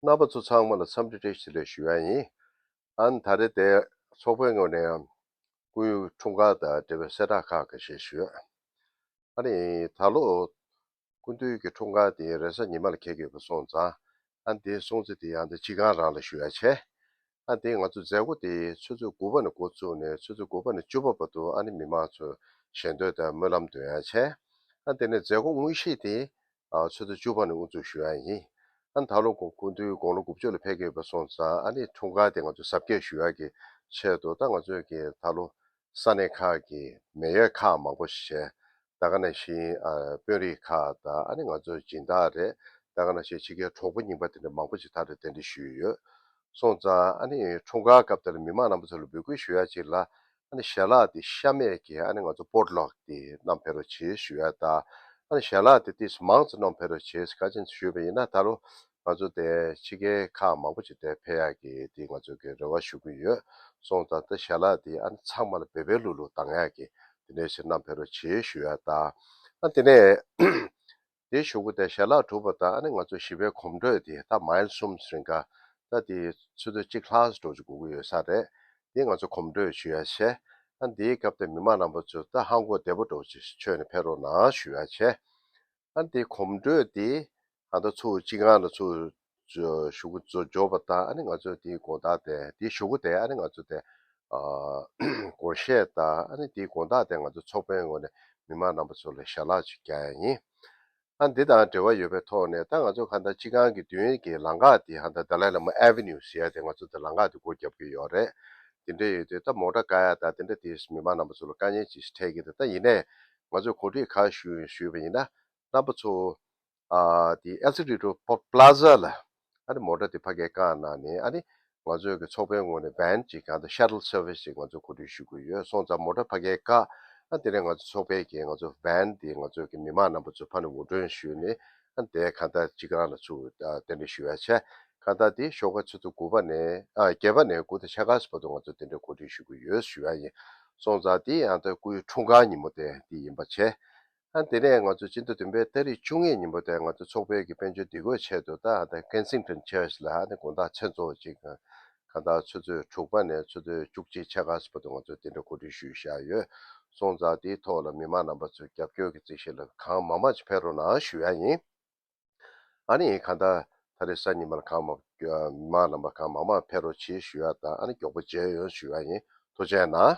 རྣམ་པ་ཚོ་ཚང་མ་ལ་འཚམས་འདྲི་བཀྲ་ཤིས་བདེ་ལེགས་ཞུ་ཡ་ཡིན། ཨཱན་ད་རེ་དེ་ཚོགས་པའི་ངོས་ནས་ཡང་ཀུན་ཡུལ་འཁྲུངས་སྐར་དང་འབྲེལ་བའི་གསལ་བསྒྲགས་ཁག་གི་ཞིག་ཞུ་ཡ་ཨ་རེ་ཡིན། ད་ལོ་ཀུན་འདུས་ཀྱི་འཁྲུངས་སྐར་དེ་ཡིན་རེས་གཟའ་ཉི་མ་ལ་ཁེལ་གྱི་ཡོད་པ་སོང་ཙང་ཨཱན་དེའི་སྲུང་བརྩི་དེ་ཡང་དེ་སྤྱི་ཁང་རང་ལ་ཞུ་ཡ་བྱས། ཨ་དེ་ང་ཚོ་མཛད་སྒོ་དེ་ཚོད་ཚོད་དགུ་པ་ནས་འགོ་བཙུགས་ནས་ཚོད་ཚོད་དགུ་པ་ནས་བཅུ་པ་བར་དུ་ཨ་ནི་མི་མང་ཚོས་ཞལ་འདོན་དང་སྨོན་ལམ་འདོན་ཡང་བྱས། ཨ་དེ་ནས་མཛད་སྒོ་དངོས་གཞི་དེ་ཚོད་ཚོད་བཅུ་པ་ནས་དབུ་འཛུགས་ཞུ་ཡག་ཡིན། ཨ་ད་ལོ་གུང་ཐུའི་དགུང་ལོ་དགུ་བཅུ་ལ་ཕེབས་ཀྱི་ཡོད་པ་སོང་ཙང་ཨ་ནི་འཁྲུངས་སྐར་དེ་ང་ཚོས་གཟབ་རྒྱས་ཞུ་ཡག་གི་ཆེད་དུ་ད་ང་ཚོས་ཀྱི་ད་ལོ་ས་གནས་ཁག་གི་མེ་ཡོད་ཁག་མང་པོ་ཞེས་ད་ག་ནས་ཤིང་དཔོན་རིགས་ཁག་དང་ཨ་ནི་ང་ཚོའི་སྦྱིན་བདག་རེད་ད་ག་ནས་ཤིང་ཕྱི་རྒྱལ་གྲོགས་པོ་རྙིང་པ་དེ་འདྲ་མང་པོ་ཞིག་ད་རེ་གདན་འདྲེན་ཞུས་ཡོད་སོང་ཙང་ཨ་ནི་འཁྲུངས་སྐར་སྐབས་དེར་མི་མང་རྣམ་པ་ཚོ་ལ་འབོད་སྐུལ་ཞུ་ཡ་གཅིག་ལ་ཨ་ནི་ཞལ་ལག་དེ་ཤ་མེད་ཀྱི་ཨ་ནི་ང་ཚོ་པོར་ལོག་དེ་གནམ་འཕེལ་རོ་བྱེད་ཞུ་ཡ་དང་ཨ་ནི་ཞལ་ལག་དེ་ཏིས་མང་ཙོ་གནོམ་འཕེལ་རོ་བྱེད་ཀ་ཅན་ཚོ་ཞུས་པ་ཡིན་ན་ད་རུང་ང་ཚོ་དེ་ཕྱི་རྒྱལ་ཁག་མང་པོ་ཞིག་དེ་ཕེ་ཡག་གི་དེ་ང་ཚོ་གི་རེ་བ་ཞུ་གི་ཡོད་སོང་ད་ད་ཞལ་ལག་དེ་ཨ་ནི་ཚང་མ་ལ་བེ་བེ་ལུག་ལུག་གཏང་ཡག་གི་དེ་ནས་ཕྱིར་ནམ་ཕེ་རོ་བྱེད་ཞུ་ཡག་ད་ཨ་དེ་ནས་དེ་ཞུ་གི་དེ་ཞལ་ལག་གྲུབ་པ་ད་ཨ་ནི་ང་ཚོ་བཞི་བེ་གོམ་འགྲོས་དེ་ད་མཱེལ་གསུམ་སིན་ཀ་ད་དེ་ཚོད་ཚོད་གཅིག་ལྷག་ཟ་འགྲོ་ཆུ་གུ་གུ་ཡོད་ས་རེད་དེ་ང་ཚོ་གོམ་འགྲོས་ཞུ་ཡག་ཆེ་ཨ་ནི་དེའི་སྐབས་དེ་མི་མང་རྣམ་པ་ཚོས་ད་ཧང་གོ་བདེ་པོ་འགྲོ་ཆུ་ཆོད་ནས་ཕེ་རོ་ན་ཞུ་ཡག་ཆེ་ཨ་འདི་གོམ་བགྲོད་འདི་ད་ལྟ་ཚུར་སྤྱི་ཁང་ལ་ཚུར་ཞུགས་འབྱོར་པ་དང་ཨ་ནི་ང་ཚོས་འདིའི་དགོངས་དག་དེ་འདི་ཞུ་གོ་དེ་ཨ་ནི་ང་ཚོ་དེ་དགོངས་བཞེས་དང་ཨ་ནི་འདིའི་དགོངས་དག་དེ་ང་ཚོ་ཚོགས་པའི་ངོས་ནས་མི་མང་རྣམ་པ་ཚོ་ལ་ཞལ་ལག་ཅིག་རྒྱག་ཡ་ཡིན། ཨ་འདི་དང་འབྲེལ་བ་ཡོད་པའི་ཐོག་ནས་ད་ང་ཚོ་ཁ་ད་སྤྱི་ཁང་གི་མདུན་གྱི་ལང་ཀ་འདི་ཧ་ད Dalai Lama Avenue ཟེར་ཡ་དེ་ང་ཚོ་དེ་ལང་ཀ་དེ་སྒོ་བརྒྱབ་ཀྱི་ཡོད་རེད། དེ་འདྲ་ཡོད་དུས་ད་མོག་འདྲ་དཀའ་ཡ་དང་དེ་འདྲ་དེ་མི་མང་རྣམ་པ་ཚོ་ལ་དཀའ་ཉེན་ཅིག་འཕྲད་ཀྱི་འདུག་ད་ཡིན་ནའི་ང་ཚོས་གོ་སྒྲིག་གང་ཞུས་ཞུས་པ་ཡིན་ན་རྣམ་པ་ཚོ། དེ་ཨེལ་སི་རི་ཏོ་པ་ལ་ཟ་ལ་ཨ་ནི་མོ་ཏྲ་དེ་ཕ་གའི་རྐང་ནང་ནས་ཨ་ནི་ང་ཚོས་ཀྱི་ཚོགས་པའི་ངོས་ནས་བན་ཅིག་གང་དུ Shuttle Service ཅིག་ང་ཚོས་གོ་སྒྲིག་ཞུ་དགོས་ཡོད་སོང་ཙང་མོ་ཏྲ་ཕ་གའི་རྐ་ཨ་དེ་ནས་ང་ཚོས་ཚོགས་པའི་གྱི་ང་ཚོས་བན་དེ་ང་ཚོས་ཀྱི་མི་མང་རྣམ་པ་ཚོས་ཕ་ནི་འུར་སྒྲོན་ཞུས་ནས་དེའི་ཁ་བརྡ་གཅིག་རང་ལ་ཚུར་དེ་འདྲ་ཞུ་བའི་ཆ། ཁ་བརྡ་དེ་ཤོག་ཁ་ཚོད་དུ་དགུ་པ་ནས་བརྒྱད་པ་ནས་དགུ་ཐ་ཆ་ག་ས་བར་དུ་ང་ཚོ་དེ་འདྲའི་གོ་སྒྲིག་ཞུ་གི་ཡོད་ཞུ་བ་ཡིན་སོང་ཙང་དེ་ཡང་ད་སྐུའི་འཁྲུངས་སྐར་ཉིན་མོ་དེ་དེ་ཡིན་པ་བྱས། དེ་ནས་ང་ཚོ་སྤྱི་མཐུ་བདུན་པའི་སྟ་རི་བཅུ་གཉིས་ཉིན་མོ་དེ་ང་ཚོ་ཚོགས་སྤེལ་གྱི་དཔལ་འབྱོར་སྡིག་དགོས་ཆེད་དུ་ད Kensington Church ལ་དགོངས་དག་ཚན་གཙོ་བོ་གཅིག་གང་དག་ཚོད་ཚོད་དྲུག་པ་ནས་ཚོད་ཚོད་བཅུ་གཅིག་ཆ་ག་ས་པ་དུ་ང་ཚོས་དེ་འདྲ་གོ་སྒྲིག་ཞུས་བཞག་ཡོད། སོང་ཙང་དེའི་ཐོག་ལ་མི་མང་རྣམ་པ་ཚོས་རྒྱབ་སྐྱོར་གྱི་རྩིས་བཤེར་ལ་གང་མང་མང་ཅིག་ཕེ་རོ་ནང་ཞུས་ཡག་ཡིན། ཨ་ནི་གང་དག་ད་རེས་སང་ཉིན་མར་གང་མང་མི་མང་རྣམ་པ་གང་མང་མང་ཕེ་རོ་བྱེད་ཞུས་ཡག་དང་ཨ་ནི་མགྱོགས་པོ་མཇལ་ཡོང་ཞུས་ཡག་ཡིན་ཐུགས་ཆེ་གནང།